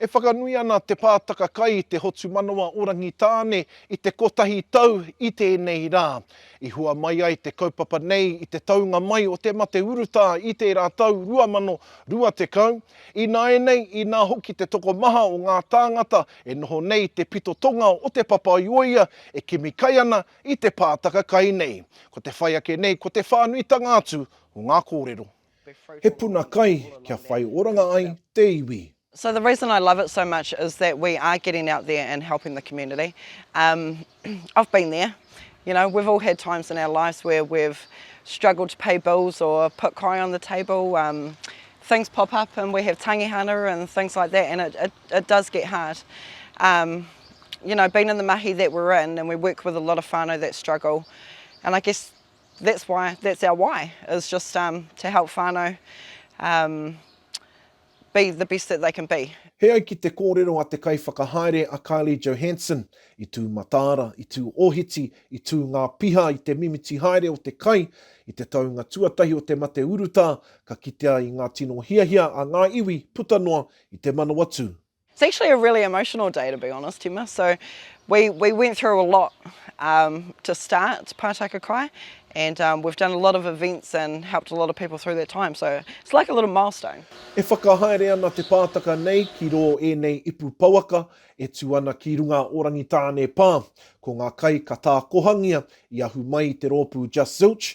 E whakanui ana Te Pātaka Kai i te Hotumanawa o Rangitāne i te kotahi tau i tēnei rā. I hua mai ai te kaupapa nei i te taunga mai o te mate urutā i tērā tau 2020. Ināianei, inā hoki te tokomaha o ngā tāngata e noho nei i te pito tonga o Te Papaioea e kimi kai ana I te pātaka kai nei, ko te whai ake nei ko te whānuitanga atu o ngā kōrero. He puna kai kia whai oranga ai te iwi. So the reason I love it so much is that we are getting out there and helping the community. Um I've been there, you know, we've all had times in our lives where we've struggled to pay bills or put kai on the table, um things pop up and we have tangihana and things like that and it it does get hard. Um you know being in the mahi that we're in and we work with a lot of whānau that struggle and I guess that's why that's our why is just um, to help whānau um, be the best that they can be. He ai ki te kōrero a te kaiwhakahaere a Kylie Johansson, i tū mataara, i tū ōhiti, i tū ngā piha i te mimiti haere o te kai, i te taunga tuatahi o te mate urutā, ka kitea i ngā tino hiahia a ngā iwi puta noa i te Manawatū. It's actually a really emotional day to be honest Tima, so we we went through a lot um, to start Pātaka Kai and um, we've done a lot of events and helped a lot of people through that time so it's like a little milestone. E whakahaere ana te pātaka nei ki rō ēnei ipu pouaka e tū ana ki runga o Rangitāne Pā. Ko ngā kai ka tākohangia i ahu mai i te rōpū Just Zilch,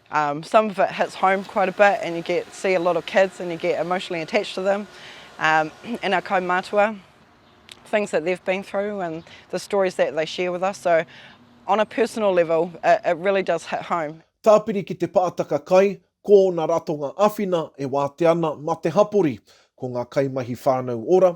Um some of it hits home quite a bit and you get to see a lot of kids and you get emotionally attached to them um and our kaumātua things that they've been through and the stories that they share with us so on a personal level it, it really does hit home. Tāpiri ki te pātaka kai, ko ōna ratonga āwhina e wātea ana mā te hapori, ko ngā kaimahi whānau ora,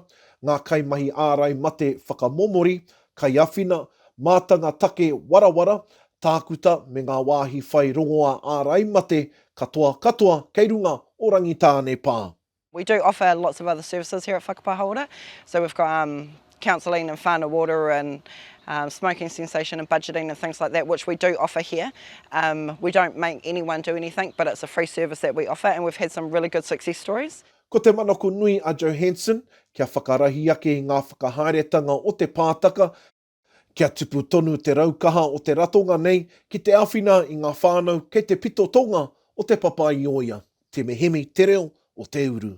ngā kaimahi ārai mate whakamomori, kaiawhina, mātanga take warawara, Tākuta me ngā wāhi whai rongoā ārai mate katoa katoa kei runga o Rangitāne pā. We do offer lots of other services here at Whakapā Hauora, so we've got um, counselling and whānau water and um, smoking cessation and budgeting and things like that, which we do offer here. Um, we don't make anyone do anything, but it's a free service that we offer and we've had some really good success stories. Ko te manako nui a Johanson, kia whakarahi ake i ngā whakahaeretanga o te pātaka, Kia tupu tonu te raukaha o te ratonga nei ki te āwhina i ngā whānau kei te pito tonga o Te Papa-i-ōia, Te Mihimi te reo o te uru.